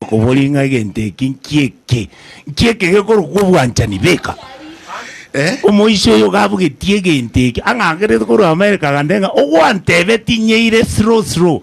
Okobori ng'a egento eke nki'eke, nki'eke gekorokwa obwanchani, beka. Omoisia oyo gabugetie egento eke, ang'angerete korwa Amerika agantebia ng'a, Ogwantebetie nyeire slow slow.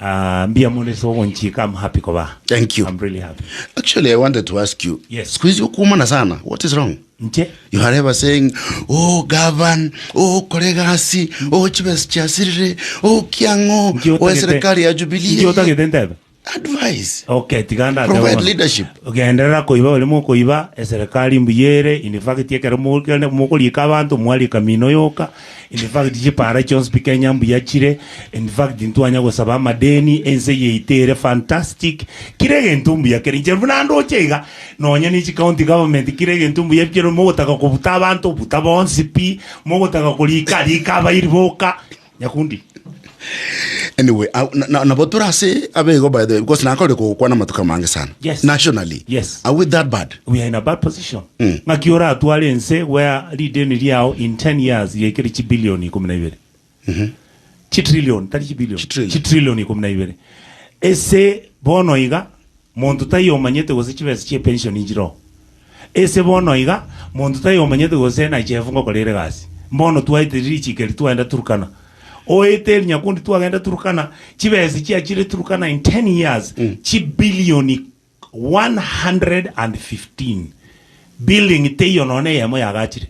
Aah mbuya mono ase ogonchika am happy koba aa. Thank you. I'm really happy. Actually, I wanted to ask you. Yes. Siku hizi ukuumana sana. What is wrong? Nche? You are ever saying, oh, govern, oh, kore egasi, oh, chibesa chiasirire, oh, kiang'o, Nchi oh, otagete- serikali ya Nchi Jubilee. otagete ntebe? Advice. Okay, tiga ndate Provide bono. leadership. Genderera koiba ore mokoiba, eserikali mbuya ere, in fact ekero mokende- mokoriika abanto, mwarika mino yoka, In fact chipara chionsi pi Kenya mbuya chire, in fact ntwanya gosaba amadeni, ense eye yaito ere fantastic, kira egento mbuya kere inche buna ndoche iga, nonya ne chi county government kira egento mbuya pi kero mogotaka kobuta abanto, buta bonsi pi, mogotaka korika, rika abairi boka, Nyakundi. Anyway, ah, na- na- nabo tore ase abego by the way, because nakorire kogokwana amatuko amange sana Yes. nationally Yes. are we that bad we are in a bad position Mm. ng'aki oratware ense where rideni riao in 10 years riaikere chibilioni ikumi na ibere chitrillion tari chibilioni Chitrillion. chitrillion ikumi na ibere ese bono iga monto taiyo omanyete gose chibesa chie pension nchiroo Ase bono iga, monto taiyo omanyete gose nache efungo kore ere egasi. Mbono twaetire richikiri twagenda Turkana. Oetere nyakundi twagenda Turkana, chibesa chiachire Turkana in ten years, chibillioni 115. Building teiyo nonya eyemo yagachire.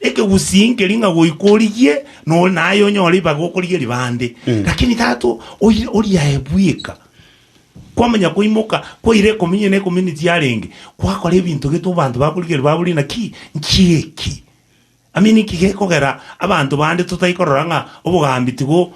Ekegusii nkeri ng'a goika origie, nore naye onyore ribaga okorigia ribande. Lakini tata o- oi- oriaye bweka, kwamanya koimoka kwaira ekomenya na ecommunity yarenge, kwakora ebinto gete abanto bakorigereria babori naki, nki eki? I mean nki gekogera abanto bande totai korora ng'a obogambi tigo.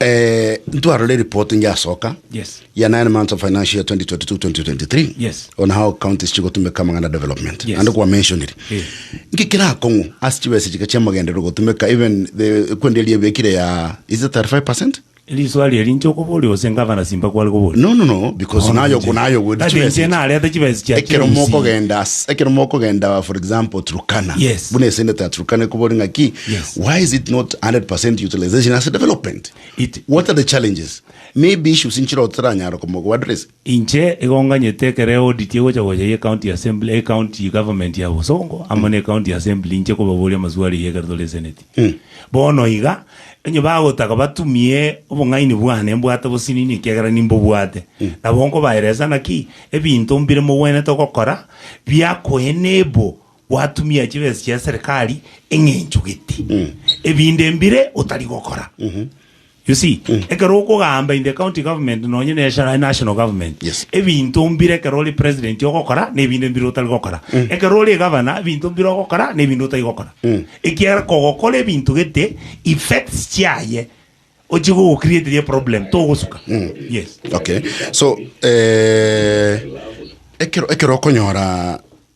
Eh, ntwarore eripoti ngiasoka Yes. ya nine months of financial year 2022-2023 Yes. on how counties chigotumeka amang'ana development Yes. ande kwa mentioniri Eh. ngikira akong'u ase chibesa chika chiamagenderero gotumeka even the kwenderia ebekire ya is it 35 percent Eriswari eri inche okoboria ose ngavana simba kware koboria. no no no because Bono nayo inche- nayo gode Ati chibesa inche echi. narete chibesa chia ekero chibesa. mokogenda as- ekero mokogenda for example turkana Yes. buna esendete ya turkana ekobori ng'aki Yes. Why is it not 100% utilization as a development? It- What are the challenges? Maybe issues inchiro otaranyara komogo address. inche igonganyete ekero eaudit egocha gocha ye county assembly e county government ya bosongo amo ne county assembly inche kobaboria amaswali eyio ekero tore eseneti bono iga onye bagotaka batumie obong'aini bwane mbwate bosini niki ekero nimbobwate nabo nkobaeresa naki ebinto mbire mogwenerete gokora biakoenable Gwatumia chibesa chia serikali eng'enchogete ebinde mbire otari gokora. You see, ekero okogamba in the county government nonye na eshara national government, Yes. ebinto mbire ekero ore president ogokora na ebinde mbire otari gokora. Ekero ore governor, ebinto mbire ogokora na ebinde otari gokora. Ekiagera kogokora ebinto gete effects chiaye ochie gogocreateria problem togosuka. Yes. okay so eh, ekero ekero okonyora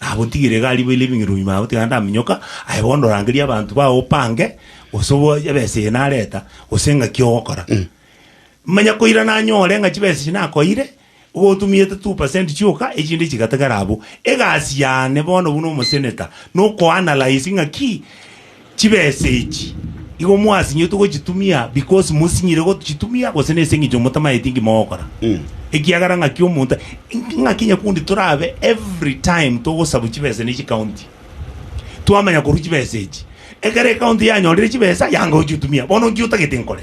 Nabotigire iga ariboire ebing'irwa nyuma ya gotigana ndaminyoka, aye bono orangerie abanto bao opange, gose oboe ebesa eye nareta, gose engaki ogokora. Manya koira nanyore ng'a chibesa echi nakoeire, igo otumiete two percent chioka, echinde chigatigara abwo. Egasi yane bono buna omoseneta, nokoanalyse ng'aki. Chibesa echi igo mwasinyetwe gochitumia because mosinyire gochitumia gose nase engencho motamaeti nki mogokora? Ekiagera ng'aki omonto ng'aki nyakundi torabe every time togosabu chibesa ne chikaunti twamanya korwa chibesa echi. Ekero ekaunti yanyorire chibesa yanga gochitumia bono nki otagete nkore?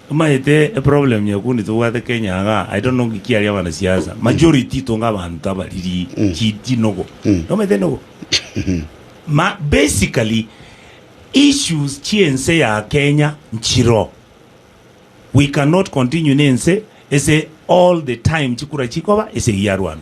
Omanyete eproblem nyakundi tobwate Kenya iga, I don't know nki kiaria abanasiasa, majority tonge abanto abariri chi chinogo. Nomanyete enogo? Ma basically issues chi'ense ya Kenya nchiro. We cannot continue nense ase all the time chikura chikoba ase eyiarwana.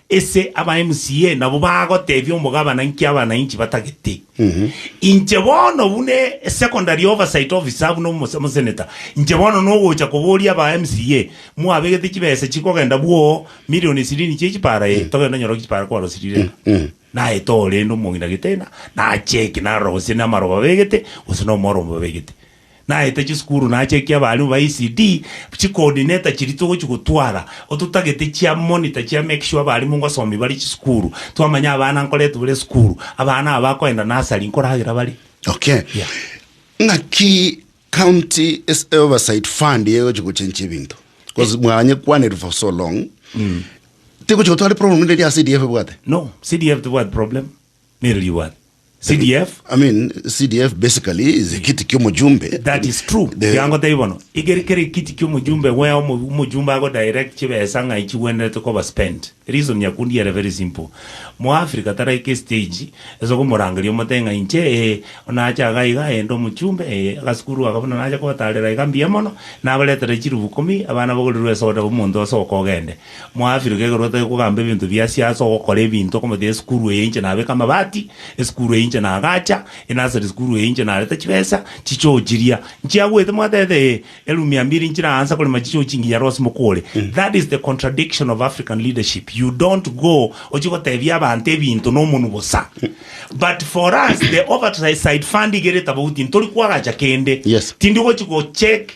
Ase aba MCA nabo bagotebia omogabana inki abananchi batagete. Inche bono buna secondary oversight officer buna omoseneta, inche bono nogocha koboria aba MCA, mwabegete chibesa chikogenda bwoo million ishirini chia echipara ee, togende onyore echipara kwarosirire ng'a naye tore ende omong'ina gete ng'a nache eki narora gose namaroba abegete gose nomorombe obegete. Naete chisukuru naachia ekia abalimu ba ECD chikoordineta chiria togochia gotwara, ototagete chia monitor chia make sure abalimu ngosomi bare chisukuru, twamanya abana nkorete bare esukuru, abana aba bakoenda nursery nkoragera bare. Okay. Yeah. Ng'aki county es- oversight fund egochi gochenchi ebinto bcause mwanyekwanire for so long tigochi gotwara problem ende eria CDF ebwate No, CDF tibwati problem. Nero rigware. CDF. I mean CDF basically is ekiti kia omojumbe. That is true. Iga ngotebi bono, egere kera ekiti kia omojumbe wea omojumbe ago direct chibesa ng'ai chigwenerete koba spent. Reason ya kundi ere very simple. Mo Africa taraika estage ase okomorangeria omote ng'a inche ee nache iga iga ee inde omochumbe ee agasukuru aka buna nache kobatarera iga mbuya mono nabaretere chirubu ikomi abana bagorirwe esoda omonto ase oka ogende. Mwafirwe igoro gotari kogamba ebinto bia siasa, ogokora ebinto, okomotebia esukuru eye inche nabeka amabati, esukuru eye inche nagacha, enasari sukuru eye inche nareta chibesa, chichoo chiria nchiagoete mwatebete ee, eroom ya mbili nchire aanse korema chichoo chingiya rose mokore. That is the contradiction of African leadership, you don't go ochie gotebia abanto ebinto na omonwe bosa. But for us the overside fund iga ere tabauti ntori kwagacha kende, Yes. tindi ogochi go check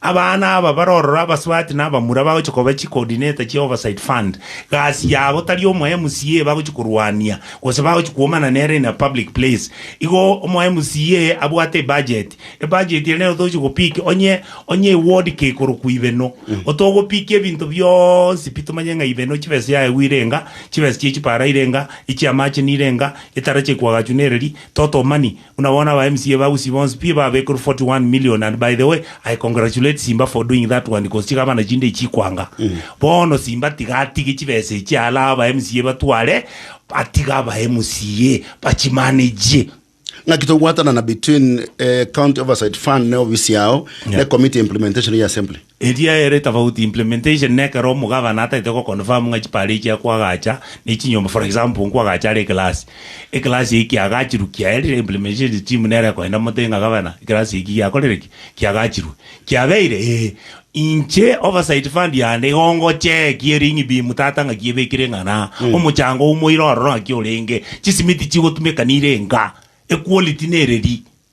Abana aba bare ororo abasubati na abamura bagochia koba chi coordinator chia oversight fund. Gasi yabo tari omo MCA bagochia korwania gose bagochia kwomana nere in a public place. Igo omo MCA abwate ebudget, ebudget ere nero togochia go pick onye onye eward kei korokwa ibeno. Otogo pick ebinto bionsi pi tomanye ng'a ibeno chibesa ya egwe ire enga, chibesa chia echipara ire enga, echiamache nire enga, etara chia ekwagachu nere ri, totomani. Buna bono aba mca ba Gusii bonsi pi babekerwe 41 million and by the way I congratulate Simba for doing that one cause chigabana chinde chikwanga bono Simba tiga atige chibesa echi alaha aba mca batware atige aba mca bachimanage. Ng'aki togwatanana between eh, County Oversight Fund ne ofisi yao ne Committee ya Implementation ya Assembly? Eria ere tofauti, implementation, na ekero omogabana atagete go confirm ng'a chipara echio akwagacha ne chinyomba, for example, nkwagacha are ekelasi, ekelasi eyio kiagachirwe, kiaerire implementation team nere ekogenda mote ng'a gabana, ekelasi eki giakorire ki? Kiagachirwe. Kiabeire? Ee. Inche oversight fund yane igo ngochee ki eri ng'ibimu tata ng'aki ebekire ng'a na, omochango oumoire ororo ng'aki orenge, chisimiti chigotumekanire enga, equality nereri.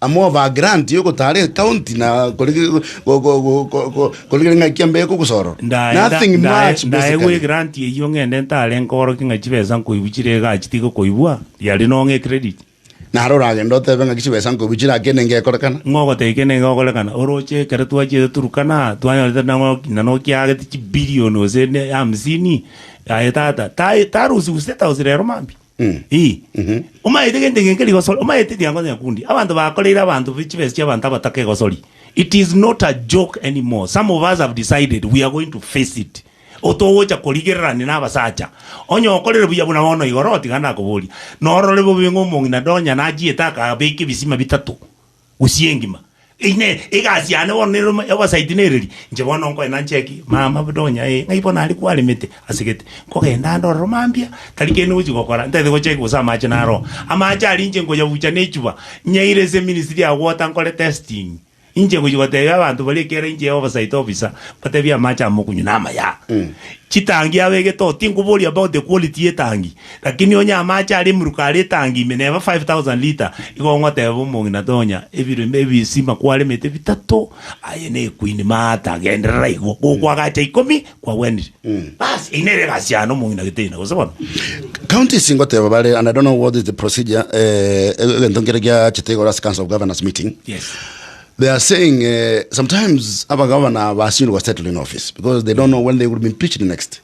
Am'over grant y'ogotaara ecounty na kore kore ng'aki ambe kogosorora. Nothing much basically. Ndaegwe egrant eyio ng'ende ntare nkorokie ng'a chibesa nkoibu chire igaa chitigokoibwa, riaria nong'e credit. Naro oragende otebe ng'aki chibesa nkoibu chire aa kende ngekorekana. Ng'a ogotebia kende ngegokorekana. Oroche ekero twachiete Turkana, twanyorete nang'o ng'ina nokiagete chibillion gose ne hamsini, aye tata, ta tarusi gose tausi rero mambia. Ii. Omaete gento eke nkerigosori, omaete ekirango nyakundi, abanto bakoreire abanto be chibesa chiabanto abatakegosori. It is not a joke anymore, some of us have decided we are going to face it. Otogocha korigererania na abasacha, onye okorire buya buna bono igoro, tiga ndakoborie, norore bobe ng'a omong'ina Donya nachiete akabeka ebisima bitato. gusii engima. Inee, egasi yane bono nere ome obasaiti nereri? Inche bono nkoena ncheki, mama buna onya ee, ng'ai bono aria kwaremete, ase gete. Nkogenda ndororo mambia, tari kende ngochi gokora, ntaete gocheki gose amache naroa. Amache aria inche nkoyabucha nechuba, nyaire ase ministry ya water nkore testing. Inche ngochi gotebia abanto baria ekero inche obasaiti officer, mbatebie amache amo mokunywa namaya. Chitangi abegete oo, tinkoboria about the quality y'etangi, Lakini onye amache aria emeruka are etangi ime, neba 5,000 lita, igo ogoteba omong'ina tonya ebiro ime ebisima kwaremete bitato, aye nekwini maata, genderera igo, gokwagacha ikomi kwagwenire. Bas, eyio nere egasi yane omong'ina geteina, gose bono? Counties ingoteba bare and I don't know what is the procedure eh, egento nkere giachete igoro ase council of governors meeting Yes. they are saying eh, sometimes abagavana basindwa settle in office because they don't know when they will be impeached next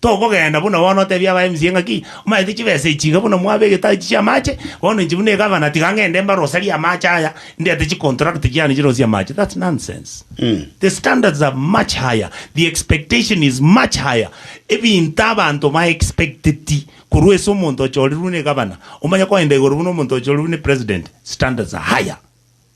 Tokogenda buna bono otebie aba MCA ng'aki, omanyete chibesa echi iga buna mwabegete ase chi'amache, bono inche buna egavana tiga ng'ende mbaroserie amache aya, ndete chicontract chiane chirosie amache. That's nonsense. The standards are much higher, the expectation is much higher. Ebinto abanto ba expecteti korwa ase omonto ochorirwe na egavana, omanye koenda igoro buna omonto ochorirwe na epresident, standards are higher.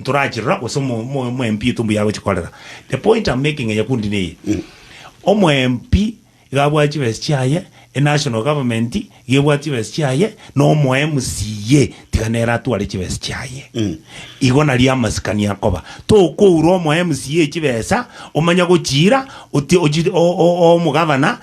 Ntorachirora gose omoempi oito mbuya agochia korera. The point am making nyakundi neye, omoempi iga abwate chibesa chiaye, e national government iga ebwate chibesa chiaye, na omo MCA tiga nere atware chibesa chiaye. Igo nario amasikani akoba. Tokoura omo MCA chibesa omanye gochiira otie ochi o- o- omogavana.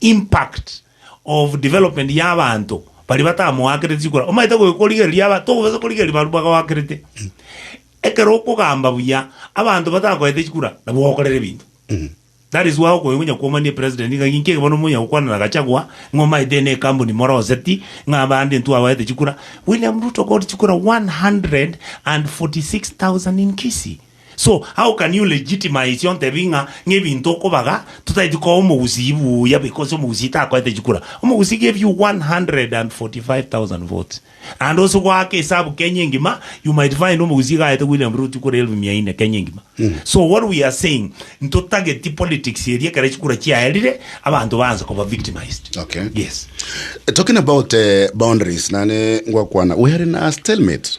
impact of development ya abanto baria batamoakereti chikura omaete goika korigereria aba tokobasa korigereria baria bagoakerete ekero okogamba buya abanto batakoete chikura nabo ogokorera ebinto that is why okonya gonya kwomania president ng'a ng'inki eke bono monya gokwana na Gachagua ng'a omaete ene ekambuni moroseti ng'a abande intwe abaete chikura William Ruto got chikura 146,000 in Kisii. So how can you legitimize ontebie ng'a ng'ebinto okobaga totaeti koa omogusii buya because omogusii takoete chikura? Omogusii gave you 145,000 votes and ose goaka esabu Kenya engima you might find omogusii gaete William Ruto chikura elfu mia ine Kenya engima. So what we are saying ntotageti politics eria ekero chikura chiaerire abanto baanse koba victimised. Okay. Yes. Talking about eh, boundaries, nane ngwakwana we are in a stalemate.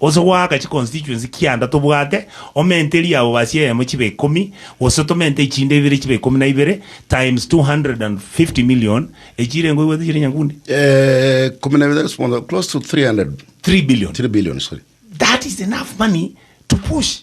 Gose goaka chiconstituency kianda tobwate omenteri abo basie eyemo chibe ikomi, gose tomente echinde ibere chibe ikomi na ibere, times 250 million, echio irengo oigwete chire nyakundi? Ikomi na ibere times bono close to 300 3 billion. 3 billion, sorry. That is enough money to push.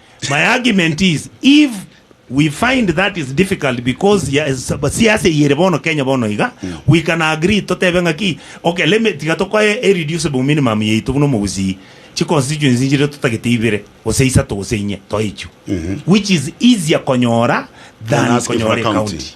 My argument is if we find that is difficult because ya sab- siasa eye ere bono Kenya bono iga we can agree totebe ng'aki okay let me tiga tokoe a reducible minimum yaito buna omogusii chi constituency nchire totagete ibere gose isato gose inye toichwe which is easier konyora than Than asking for a konyora county. ecounty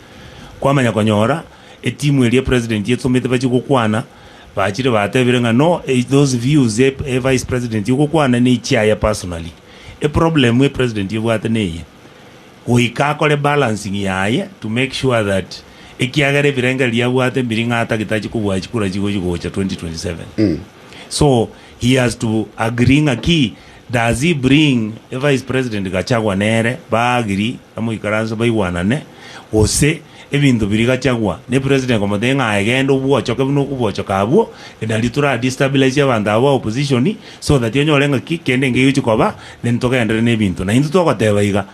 Kwamanya konyora etimu eria president etomete bachie gokwana, bachire batebire ng'a no those views e vice president ogokwana nechiaye personally. E problem e president ebwate neye, goika akore balancing yaye to make sure that ekiagera ebirengererio abwate mbiri ng'a atagete achie kobua chikura chigochi gocha 2027. So He has to agree ng'aki does he bring a vice president Gachagua nere ba agree amoikaranse baigwanane gose ebinto biria Gachagua ne president komotebia ng'a aye genda obwochoke buna okobwochoka abwo nario tora destabilize abanto aba ba opposition so that onyore ng'aki kende nkegochi koba then togenderere ne ebinto na intwe togoteba iga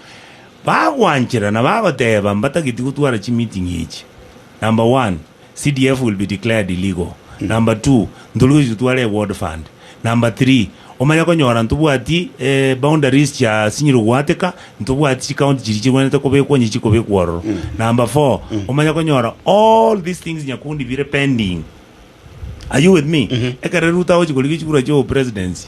bagwanchera na bagoteba mbatageti gotwara chi meeting echi number one. CDF will be declared illegal. Number two, ntoruge gochia totware e ward fund. Number three, omanye konyora ntobwati e boundaries chia sinyiro goateka, ntobwati chi county chiria chigwenerete kobekwa onye chikobekwa ororo. Number four, omanye konyora all these things nyakundi bire pending. Are you with me? Ekero Ruto agochia korigia chikura chio presidency,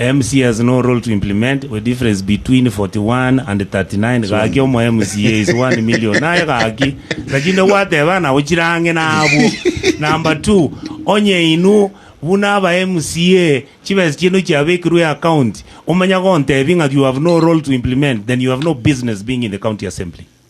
MC has no role to implement we difference between 41 and 39 gaki omo MCA is 1 million naye gaki naki inde gwateba nabo chire ang'e nabwo number two onye inwe buna aba MCA chibesa chiaino chiabekirwe account omanya gontebi ng'aki you have no role to implement then you have no business being in the county assembly.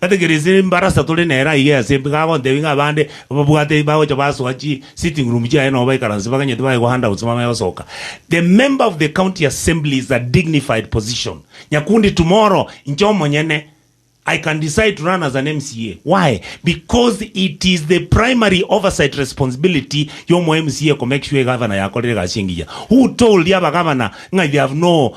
Gategerese embarasa tore nere aiga ase embe, gagontebia ng'a abande babwate bagocha basoa chi sitting room chiaye nobo baikaranse baganyete baegwa handouts bamanye gosoka. The member of the county assembly is a dignified position. Nyakundi tomorrow inche omonyene I can decide to run as an MCA. Why? Because it is the primary oversight responsibility y'omo MCA ko make sure egavana yakorire egasi engiya. Who told abagavana ng'a they have no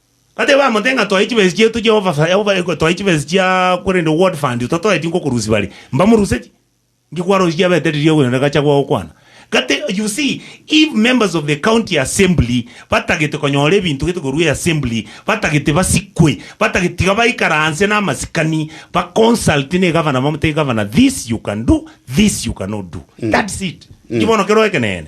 Bateba amo te ng'a toe chibesa chiaito Jehova fa yabo bare gotoe chibesa chiaa korende world fund totoeti ngokorusi bare mbamoruseti nki kwarosie chiabete riria okoyona gachagua gokwana gati you see if members of the county assembly batagete konyora ebinto gete korwa eassembly batagete basikwe batagete tiga baikaranse na amasikani ba consult ne egavana bamotebie gavana this you can do this you cannot do that's it nki bono kero ekeneene.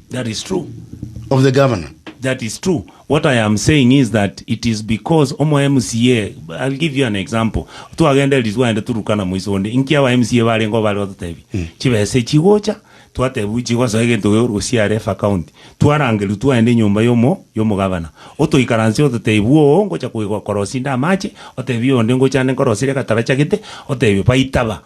That is true. of the governor. That is true. What I am saying is that it is because omo MCA, I'll give you an example. Twagenda eriswa aende Turkana moiso onde, inki aba MCA barengeo bare batotebia? Chibesa echi chigocha, twatebia buna chigosoa egento keria ore gosiara efa county. Twarangerwa twaenda enyomba y'omo y'omogabana. Otoikaransie ototebia buna oo ngocha koigwa korosia inde amache, otebie onde ngocha ande nkorosire egatara chagete, otebie baita ba.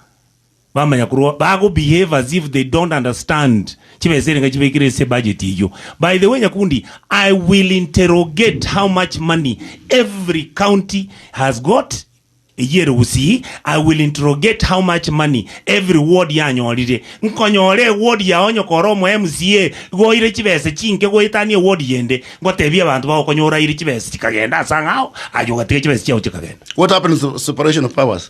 Bamanya korwa bago behave as if they don't understand chibesa erenga chibekire ase budget eyio. By the way Nyakundi, I will interrogate how much money every county has got eyio ere gusii, I will interrogate how much money every ward yanyorire. Nkonyora eward yao onye kore omo MCA igo oire chibesa chinke goetania eward yende, ngotebie abanto bao konya oraire chibesa chikagenda ase ang'ao, aye ogatiga chibesa chiao chikagenda. What happens to separation of powers?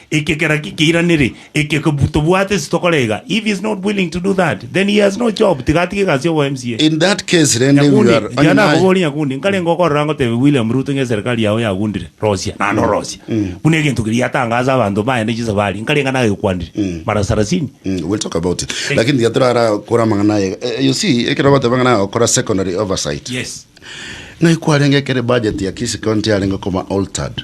Ekegera gekeiraneri eke tobwate ase tokorega, if he is not willing to do that then he has no job, tiga atige egasi ya obo MCA. In that case rende we Nyakundi, are onye naye. nakoborie Nyakundi, nkarenge okorora ngotebe William Ruto ng'a eserikari yao yagundire, rosia, naende orosie. Buna egento keria yatangaasa abanto baye ne chisabari, nkarenga nagekwanire, mara sarasini. Mm, we'll talk about it lakini tiga torara kore amang'ana aye Eh, you see ekero bagoteba ng'a nagokora secondary oversight Yes. ng'ai kwarenge ekere budget ya Kisii county yarenge koma altered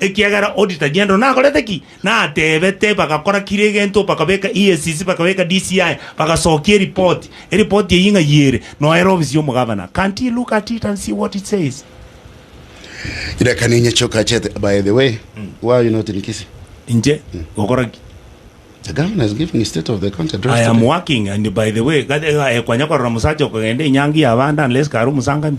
Ekiagera auditor Gendo nakorete ki? Natebete bagakora kira egento bakabeka EACC bakabeka DCI bagasokia eripoti. Eripoti eyio ng'ai ere? Noera ofisi ya omogavana. Can't he look at it and see what it says? Iraka ninye choka chete by the way why are you not in Kisii? Inche gokora ki? The governor is giving a state of the country address I am today. working and by the way gati- eh, kwanya korora musacha okogenda enyangi ya abande unless kare omusangani.